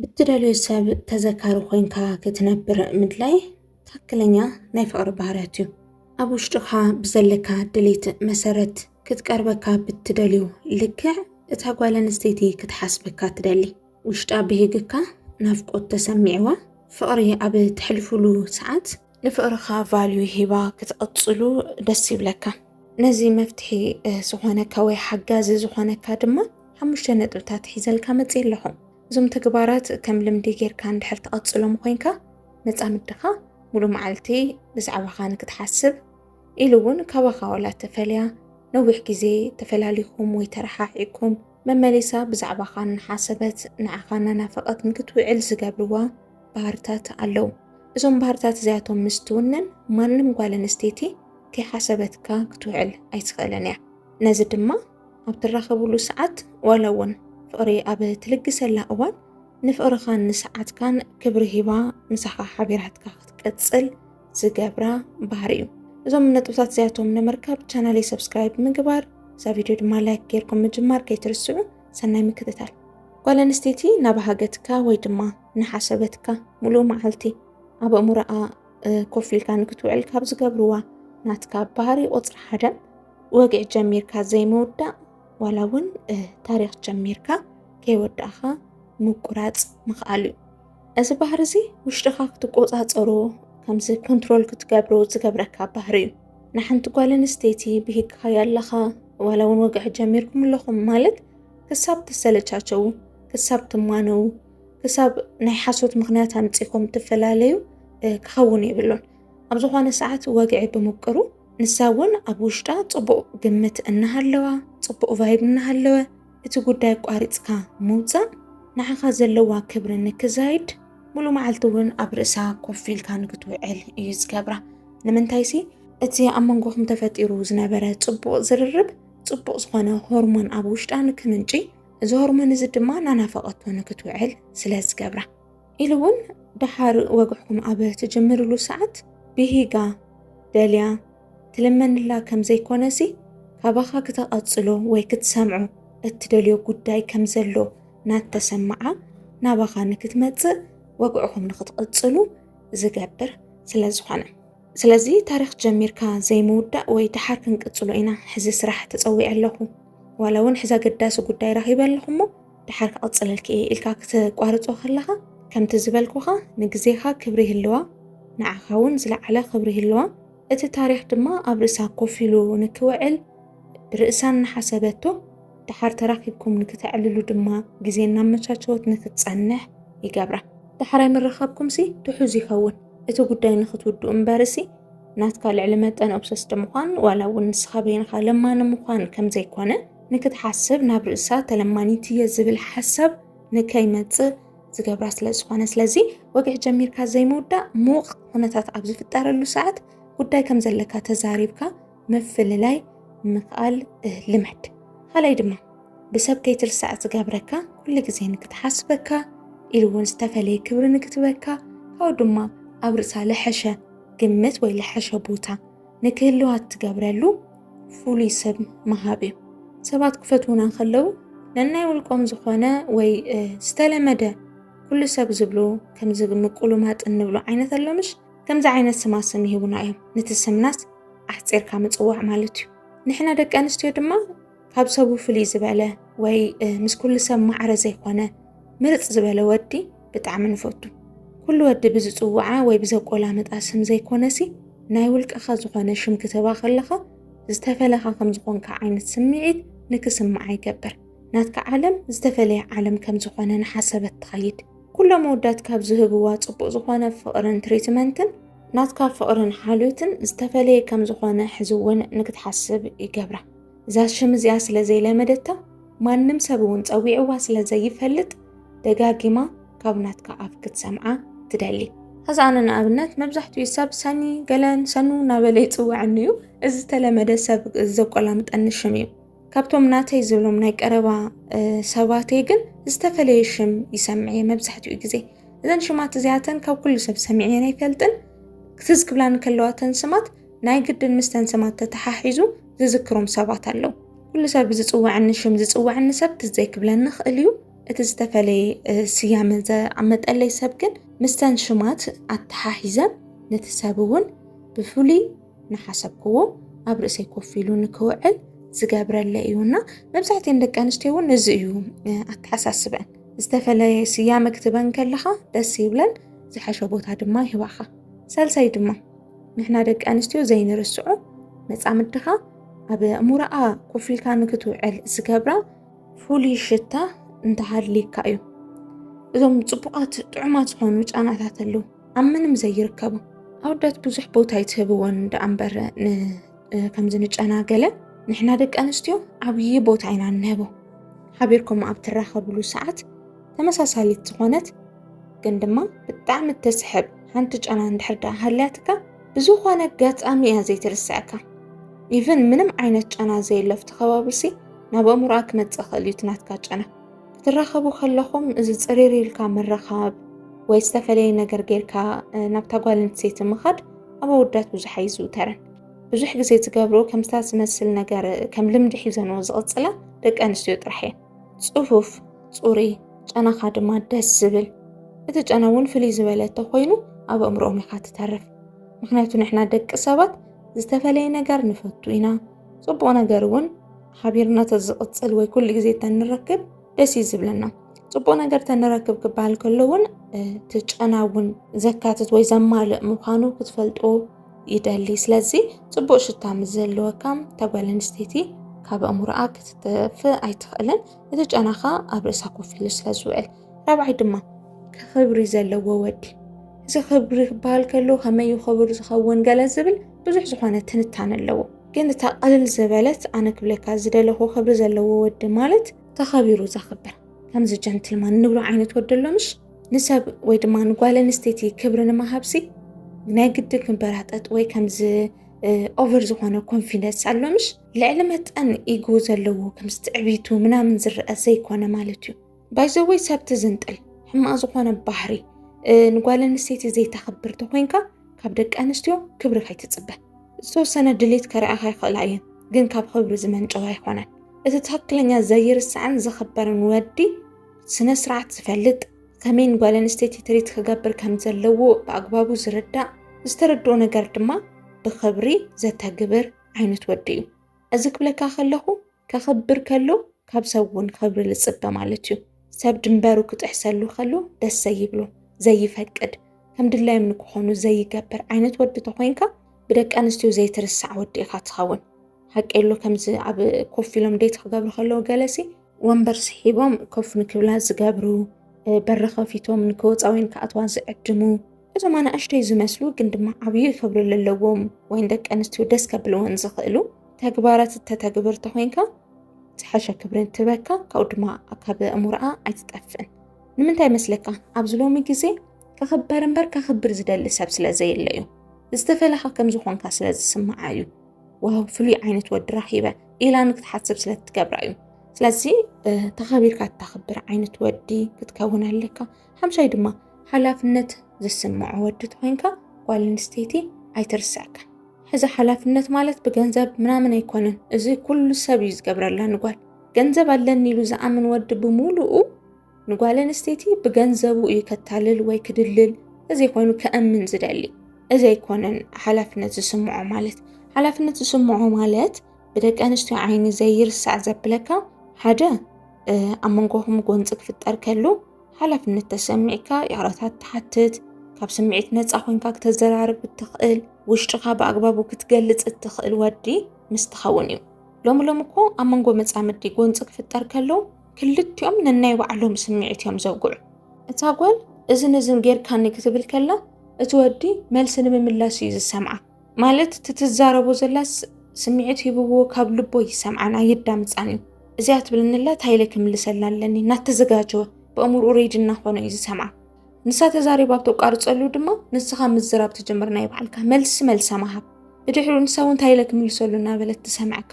ብትደልዮ ሰብ ተዘካሪ ኮይንካ ክትነብር ምድላይ ትክክለኛ ናይ ፍቕሪ ባህርያት እዩ። ኣብ ውሽጥኻ ብዘለካ ድሌት መሰረት ክትቀርበካ ብትደልዮ ልክዕ እታ ጓል ኣንስተይቲ ክትሓስበካ ትደሊ። ውሽጣ ብሂግካ ናፍቆት ተሰሚዕዋ ፍቕሪ ኣብ ተሕልፉሉ ሰዓት ንፍቕርኻ ቫልዩ ሂባ ክትቕፅሉ ደስ ይብለካ። ነዚ መፍትሒ ዝኾነካ ወይ ሓጋዚ ዝኾነካ ድማ ሓሙሽተ ነጥብታት ሒዘልካ መፅእ ኣለኹ። እዞም ተግባራት ከም ልምዲ ጌርካ እንድሕር ተቐፅሎም ኮይንካ መፃምድኻ ሙሉ መዓልቲ ብዛዕባኻ ንክትሓስብ ኢሉ እውን ካባኻ ዋላ ተፈልያ ነዊሕ ግዜ ተፈላሊኹም ወይ ተረሓሒኩም መመሊሳ ብዛዕባኻ እናሓሰበት ንዓኻ እናናፈቐት ንክትውዕል ዝገብርዋ ባህርታት ኣለው። እዞም ባህርታት እዚኣቶም ምስ ትውንን ማንም ጓል ኣንስተይቲ ከይሓሰበትካ ክትውዕል ኣይትኽእልን እያ። ነዚ ድማ ኣብ ትራኸብሉ ሰዓት ዋላ እውን ፍቕሪ ኣብ ትልግሰላ እዋን ንፍቕርኻን ንሰዓትካን ክብሪ ሂባ ምሳኻ ሓቢራትካ ክትቅፅል ዝገብራ ባህሪ እዩ። እዞም ነጥብታት እዚኣቶም ንምርካብ ቻናለይ ሰብስክራይብ ምግባር እዛ ቪድዮ ድማ ላይክ ጌርኩም ምጅማር ከይትርስዑ። ሰናይ ምክትታል። ጓል ኣንስተይቲ ናባሃገትካ ወይ ድማ ንሓሰበትካ ሙሉእ መዓልቲ ኣብ ኣእምሮኣ ኮፍ ኢልካ ንክትውዕል ካብ ዝገብርዋ ናትካ ባህሪ ቁፅሪ ሓደ ወግዒ ጀሚርካ ዘይምውዳእ ዋላ እውን ታሪክ ጀሚርካ ከይወዳእኻ ምቁራፅ ምኽኣል እዩ። እዚ ባህሪ እዚ ውሽጥኻ ክትቆፃፀሮ ከምዚ ኮንትሮል ክትገብሮ ዝገብረካ ባህሪ እዩ ንሓንቲ ጓል ኣንስተይቲ ብሂግካ ያለኻ ዋላ እውን ወግዒ ጀሚርኩም ኣለኹም ማለት ክሳብ ትሰለቻቸው ክሳብ ትማነው ክሳብ ናይ ሓሶት ምክንያት ኣምፂኹም ትፈላለዩ ክኸውን የብሉን ኣብ ዝኾነ ሰዓት ወግዒ ብምቅሩ ንሳ እውን ኣብ ውሽጣ ፅቡቕ ግምት እናሃለዋ ፅቡቕ ቫይብ እናሃለወ እቲ ጉዳይ ኣቋሪጽካ ምውጻእ ንዓኻ ዘለዋ ክብሪ ንክዛይድ ሙሉ መዓልቲ እውን ኣብ ርእሳ ኮፍ ኢልካ ንክትውዕል እዩ ዝገብራ ንምንታይሲ እቲ ኣብ መንጎኹም ተፈጢሩ ዝነበረ ጽቡቕ ዝርርብ ጽቡቕ ዝኾነ ሆርሞን ኣብ ውሽጣ ንክምንጪ እዚ ሆርሞን እዚ ድማ ናናፈቐቶ ንክትውዕል ስለ ዝገብራ ኢሉ እውን ደሓር ወግዕኩም ኣብ ትጅምርሉ ሰዓት ብሂጋ ደልያ ትልመንላ ከም ዘይኮነሲ ካባኻ ክተቐጽሎ ወይ ክትሰምዖ እትደልዮ ጉዳይ ከም ዘሎ ናተሰምዓ ናባኻ ንክትመጽእ ወግዕኹም ንክትቕጽሉ ዝገብር ስለ ዝኾነ ስለዚ ታሪኽ ጀሚርካ ዘይምውዳእ ወይ ደሓር ክንቅጽሎ ኢና ሕዚ ስራሕ ተጸዊዐ ኣለኹ ዋላ እውን ሕዚ ኣገዳሲ ጉዳይ ረኺበ ኣለኹ እሞ ደሓር ክቕጽለልኪ እየ ኢልካ ክተቋርጾ ከለኻ ከምቲ ዝበልኩኻ ንግዜኻ ክብሪ ይህልዋ ንዓኻ ውን ዝለዓለ ክብሪ ይህልዋ እቲ ታሪኽ ድማ ኣብ ርእሳ ኮፍ ኢሉ ንክውዕል ብርእሳ እናሓሰበቶ ደሓር ተራኺብኩም ንክተዕልሉ ድማ ግዜ እናመቻቸወት ንክትጸንሕ ይገብራ። ዳሕራይ ምርኻብኩምሲ ትሑዝ ይኸውን እቲ ጉዳይ ንክትውድኡ እምበርሲ ናትካ ልዕሊ መጠን ኦብሰስድ ምዃን ዋላ እውን ንስኻ በይንኻ ለማኒ ምዃን ከምዘይኮነ ንክትሓስብ ናብ ርእሳ ተለማኒት እየ ዝብል ሓሳብ ንከይመፅእ ዝገብራ ስለ ዝኾነ ስለዚ ወግዒ ጀሚርካ ዘይምውዳእ ምውቕ ኩነታት ኣብ ዝፍጠረሉ ሰዓት ጉዳይ ከም ዘለካ ተዛሪብካ ምፍልላይ ምኽኣል ልመድ ካልኣይ ድማ ብሰብ ከይትርሳዕ ዝገብረካ ኩሉ ግዜ ንክትሓስበካ ኢሉ እውን ዝተፈለየ ክብሪ ንክትበካ ካብኡ ድማ ኣብ ርእሳ ልሐሸ ግምት ወይ ልሐሸ ቦታ ንክህልዋት ትገብረሉ ፍሉይ ስም ምሃብ እዩ። ሰባት ክፈትዉና ከለዉ ነናይ ውልቆም ዝኾነ ወይ ዝተለመደ ኩሉ ሰብ ዝብሉ ከምዚ ምቁሉማጥ እንብሎ ዓይነት ኣሎምሽ ከምዚ ዓይነት ስማ ስም ይህቡና እዮም። ነቲ ስምናስ ኣሕፂርካ ምፅዋዕ ማለት እዩ። ንሕና ደቂ ኣንስትዮ ድማ ካብ ሰቡ ፍልይ ዝበለ ወይ ምስ ኩሉ ሰብ ማዕረ ዘይኮነ ምርፅ ዝበለ ወዲ ብጣዕሚ ንፈቱ። ኩሉ ወዲ ብዝፅውዓ ወይ ብዘቆላምጣ ስም ዘይኮነሲ ናይ ውልቅኻ ዝኾነ ሽም ክትህባ ከለኻ ዝተፈለኻ ከም ዝኾንካ ዓይነት ስምዒት ንክስምዓ ይገብር። ናትካ ዓለም ዝተፈለየ ዓለም ከም ዝኾነ ንሓሰበት ትኸይድ። ኩሎም መወዳት ካብ ዝህብዋ ፅቡቅ ዝኾነ ፍቅርን ትሪትመንትን ናትካ ፍቅርን ሓልዮትን ዝተፈለየ ከም ዝኾነ ሕዚ እውን ንክትሓስብ ይገብራ። እዛ ሽም እዚኣ ስለ ዘይለመደታ ማንም ሰብ እውን ጸዊዕዋ ስለ ዘይፈልጥ ደጋጊማ ካብ ናትካ ኣፍ ክትሰምዓ ትደሊ። ሕዚ ኣነ ንኣብነት መብዛሕትኡ ሰብ ሰኒ ገለን ሰኑ እናበለ ይፅውዐኒ እዩ እዚ ዝተለመደ ሰብ ዘቆላምጠኒ ሽም እዩ ካብቶም ናተይ ዝብሎም ናይ ቀረባ ሰባተይ ግን ዝተፈለየ ሽም ይሰምዕ እየ መብዛሕትኡ ግዜ እዘን ሽማት እዚኣተን ካብ ኩሉ ሰብ ሰሚዐን ኣይፈልጥን ክትዝ ክብላ ንከለዋተን ስማት ናይ ግድን ምስተን ስማት ተተሓሒዙ ዝዝክሮም ሰባት ኣለዉ። ኩሉ ሰብ ብዝጽውዐኒ ሽም ዝጽውዐኒ ሰብ ትዝ ዘይክብለኒ ይኽእል እዩ። እቲ ዝተፈለየ ስያመ ዘመጠለይ ሰብ ግን ምስተን ሽማት ኣተሓሒዘ ነቲ ሰብ እውን ብፍሉይ ንሓሰብክዎ ኣብ ርእሰይ ኮፍ ኢሉ ንክውዕል ዝገብረለ እዩ እና መብዛሕትኤን ደቂ ኣንስትዮ እውን እዚ እዩ ኣተሓሳስበን ዝተፈለየ ስያመ ክትበን ከለኻ ደስ ይብለን ዝሐሸ ቦታ ድማ ይህባኻ ሳልሳይ ድማ ንሕና ደቂ ኣንስትዮ ዘይንርስዖ መፃምድኻ ኣብ እሙራኣ ኮፍ ኢልካ ንክትውዕል ዝገብራ ፍሉይ ሽታ እንተሃልዩካ እዩ እዞም ፅቡቃት ጥዑማት ዝኾኑ ጨናታት ኣለዉ ኣብ ምንም ዘይርከቡ ኣወዳት ብዙሕ ቦታ ይትህብዎን ደኣ እምበር ከምዚ ንጨናገለ ንሕና ደቂ ኣንስትዮ ዓብዪ ቦታ ኢና እንህቦ ሓቢርኩም ኣብ ትራኸብሉ ሰዓት ተመሳሳሊት ዝኾነት ግን ድማ ብጣዕሚ እትስሕብ ሓንቲ ጨና እንድሕር ደኣ ሃልያትካ ብዝኾነ ኣጋጣሚ እያ ዘይትርስዐካ ኢቨን ምንም ዓይነት ጨና ዘየሎ ኣብቲ ከባቢሲ ናብ ኣእምሮኣ ክመፅእ ኽእል እዩ ትናትካ ጨና ክትራኸቡ ከለኹም እዚ ፅሪር ኢልካ ምርኻብ ወይ ዝተፈለየ ነገር ጌርካ ናብታ ጓል ኣንስተይቲ ምኻድ ኣብ ኣወዳት ብዙሕ ኣይዝውተርን ብዙሕ ግዜ ዝገብሩ ከምታ ዝመስል ነገር ከም ልምዲ ሒዘንዎ ዝቕፅላ ደቂ ኣንስትዮ ጥራሕ እየን ፅፉፍ ፅሩይ ጨናኻ ድማ ደስ ዝብል እቲ ጨና እውን ፍልይ ዝበለ እንተኮይኑ ኣብ ኣእምሮኦም ኢኻ ትተርፍ ምክንያቱ ንሕና ደቂ ሰባት ዝተፈለየ ነገር ንፈቱ ኢና ፅቡቅ ነገር እውን ሓቢርና ተዝቕፅል ወይ ኩሉ ግዜ ተንረክብ ደስ እዩ ዝብለና ፅቡቅ ነገር ተንረክብ ክበሃል ከሎ እውን እቲ ጨና እውን ዘካትት ወይ ዘማልእ ምዃኑ ክትፈልጦ ይደሊ ስለዚ ጽቡቅ ሽታ ምስ ዘለወካ እታ ጓል ኣንስተይቲ ካብ ኣእምሮኣ ክትጠፍእ ኣይትኽእልን እቲ ጨናኻ ኣብ ርእሳ ኮፍ ኢሉ ስለ ዝውዕል ራብዓይ ድማ ክብሪ ዘለዎ ወዲ እዚ ክብሪ ክበሃል ከሎ ከመይ እዩ ክብሪ ዝኸውን ገለ ዝብል ብዙሕ ዝኾነ ትንታነ ኣለዎ ግን እታ ቅልል ዝበለት ኣነ ክብለካ ዝደለኹ ክብሪ ዘለዎ ወዲ ማለት ተኸቢሩ ዘኽብር ከምዚ ጀንትልማን ንብሎ ዓይነት ወዲ ኣሎ ምሽ ንሰብ ወይ ድማ ንጓል ኣንስተይቲ ክብሪ ንምሃብሲ ናይ ግዲ ክንበራጠጥ ወይ ከምዚ ኦቨር ዝኾነ ኮንፊደንስ ኣሎምሽ ልዕሊ መጠን ኢጎ ዘለዎ ከምዚ ትዕቢቱ ምናምን ዝረአ ዘይኮነ ማለት እዩ ባይዘወይ ሰብ ትዝንጥል ሕማቕ ዝኾነ ባህሪ ንጓል ኣንስተይቲ ዘይተኽብር ተኮይንካ ካብ ደቂ ኣንስትዮ ክብሪ ከይትፅበ ዝተወሰነ ድሌት ከረኣኻ ይኽእላ እየን ግን ካብ ክብሪ ዝመንጨው ኣይኮነን እቲ ትኽክለኛ ዘይርሳዕን ዝኽበርን ወዲ ስነ ስርዓት ዝፈልጥ ከመይን ጓል ኣንስተይቲ ትሪት ክገብር ከም ዘለዎ ብኣግባቡ ዝርዳእ ዝተረድኦ ነገር ድማ ብኽብሪ ዘተግብር ዓይነት ወዲ እዩ እዚ ክብለካ ከለኹ ከኽብር ከሎ ካብ ሰብ እውን ክብሪ ዝፅበ ማለት እዩ ሰብ ድንበሩ ክጥሕሰሉ ከሎ ደስ ዘይብሎ ዘይፈቅድ ከም ድላዮም ንክኾኑ ዘይገብር ዓይነት ወዲ ተኮይንካ ብደቂ ኣንስትዮ ዘይትርሳዕ ወዲ ኢኻ ትኸውን ሓቂ የሎ ከምዚ ኣብ ኮፍ ኢሎም ዴት ክገብሩ ከለዉ ገለሲ ወንበር ስሒቦም ኮፍ ንክብላ ዝገብሩ፣ በሪ ከፊቶም ንክወፃ ወይ ንክኣትዋ ዝዕድሙ እዞም ኣናእሽተይ ዝመስሉ ግን ድማ ዓብዩ ክብሪ ዘለዎም ወይን ደቂ ኣንስትዮ ደስ ከብልወን ዝኽእሉ ተግባራት እተተግብር ተኮይንካ ዝሓሸ ክብሪ እንትበካ ካብኡ ድማ ካብ ኣእምሮኣ ኣይትጠፍእን ንምንታይ መስለካ ኣብዚ ሎሚ ግዜ ከኽበር እምበር ከኽብር ዝደሊ ሰብ ስለ ዘየለ እዩ ዝተፈለኻ ከም ዝኾንካ ስለ ዝስምዓ እዩ ዋው ፍሉይ ዓይነት ወዲ ረኺበ ኢላ ንክትሓስብ ስለ እትገብራ እዩ ስለዚ ተኸቢርካ እታኽብር ዓይነት ወዲ ክትከውን ኣለካ ሓምሻይ ድማ ሓላፍነት ዝስምዖ ወዲ ተኮይንካ ጓል ኣንስተይቲ ኣይትርሰዕካ ሕዚ ሓላፍነት ማለት ብገንዘብ ምናምን ኣይኮነን እዚ ኩሉ ሰብ እዩ ዝገብረላ ንጓል ገንዘብ ኣለኒ ኢሉ ዝኣምን ወዲ ብምሉኡ ንጓል ኣንስተይቲ ብገንዘቡ እዩ ከታልል ወይ ክድልል እዚ ኮይኑ ከእምን ዝደሊ እዚ ኣይኮነን ሓላፍነት ዝስምዖ ማለት ሓላፍነት ዝስምዖ ማለት ብደቂ ኣንስትዮ ዓይኒ ዘይርሳዕ ዘብለካ ሓደ ኣብ መንጎኹም ጎንፂ ክፍጠር ከሉ ሓላፍነት ተሰሚዕካ ይቕረታ ትሓትት ካብ ስምዒት ነፃ ኮንካ ክተዘራርብ እትኽእል ውሽጥኻ ብኣግባቡ ክትገልፅ እትኽእል ወዲ ምስ ትኸውን እዩ ሎሚ ሎሚ እኮ ኣብ መንጎ መፃምዲ ጎንፂ ክፍጠር ከሎ ክልቲኦም ነናይ ባዕሎም ስምዒት እዮም ዘውግዑ። እታ ጓል እዝን እዝን ጌርካኒ ክትብል ከላ እቲ ወዲ መልሲ ንምምላስ እዩ ዝሰምዓ። ማለት እቲ ትዛረቦ ዘላ ስምዒት ሂብዎ ካብ ልቦ ይሰምዓን ኣየዳምፃን እዩ። እዚኣ ትብለኒ ኣላ ታይለ ክምልሰላ ኣለኒ እናተዘጋጀወ ብእምርኡ ሬዲ እናኾነ እዩ ዝሰምዓ። ንሳ ተዛሪባ ኣብ ተቋርፀሉ ድማ ንስኻ ምዝራብ ትጅምር ናይ ባዕልካ መልሲ መልሳ መሃብ ብድሕሪኡ ንሳ እውን እንታይ ኢለ ክምልሰሉ እናበለት ትሰምዐካ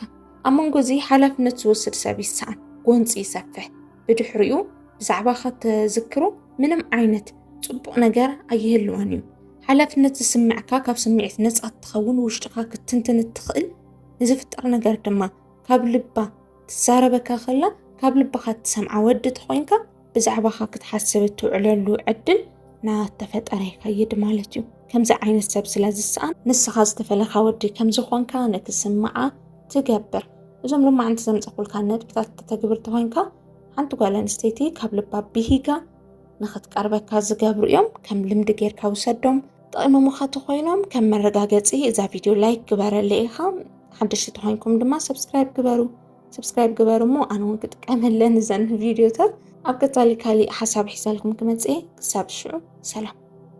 ኣብ መንጎ እዚ ሓላፍነት ዝወስድ ሰብ ይሰኣን ጎንፂ ይሰፍሕ ብድሕሪኡ ብዛዕባኻ ተዝክሮ ምንም ዓይነት ፅቡቕ ነገር ኣይህልዋን እዩ ሓላፍነት ዝስምዕካ ካብ ስምዒት ነፃ እትኸውን ውሽጥኻ ክትንትን እትኽእል ንዝፍጠር ነገር ድማ ካብ ልባ ትዛረበካ ከላ ካብ ልብኻ እትሰምዓ ወዲ ተኾይንካ ብዛዕባኻ ክትሓስብ እትውዕለሉ ዕድል ናተፈጠረ ይኸይድ ማለት እዩ። ከምዚ ዓይነት ሰብ ስለ ዝሰኣን ንስኻ ዝተፈለኻ ወዲ ከም ዝኾንካ ንክስምዓ ትገብር። እዞም ልማዕንቲ ዘምፀኹልካ ነጥብታት ተተግብር ተኾይንካ ሓንቲ ጓል ኣንስተይቲ ካብ ልባ ብሂጋ ንክትቀርበካ ዝገብሩ እዮም። ከም ልምዲ ጌርካ ውሰዶም። ጠቂሞሙኻ ተኾይኖም ከም መረጋገፂ እዛ ቪድዮ ላይክ ግበረለይ ኢልካ ሓደሽቲ ተኾይንኩም ድማ ሰብስክራይብ ግበሩ። ሰብስክራይብ ግበሩ እሞ ኣነ እውን ክጥቀመለን እዘን ቪድዮታት ኣብ ቀፃሊ ካሊእ ሓሳብ ሒዛልኩም ክመፅእ ክሳብ ሽዑ ሰላም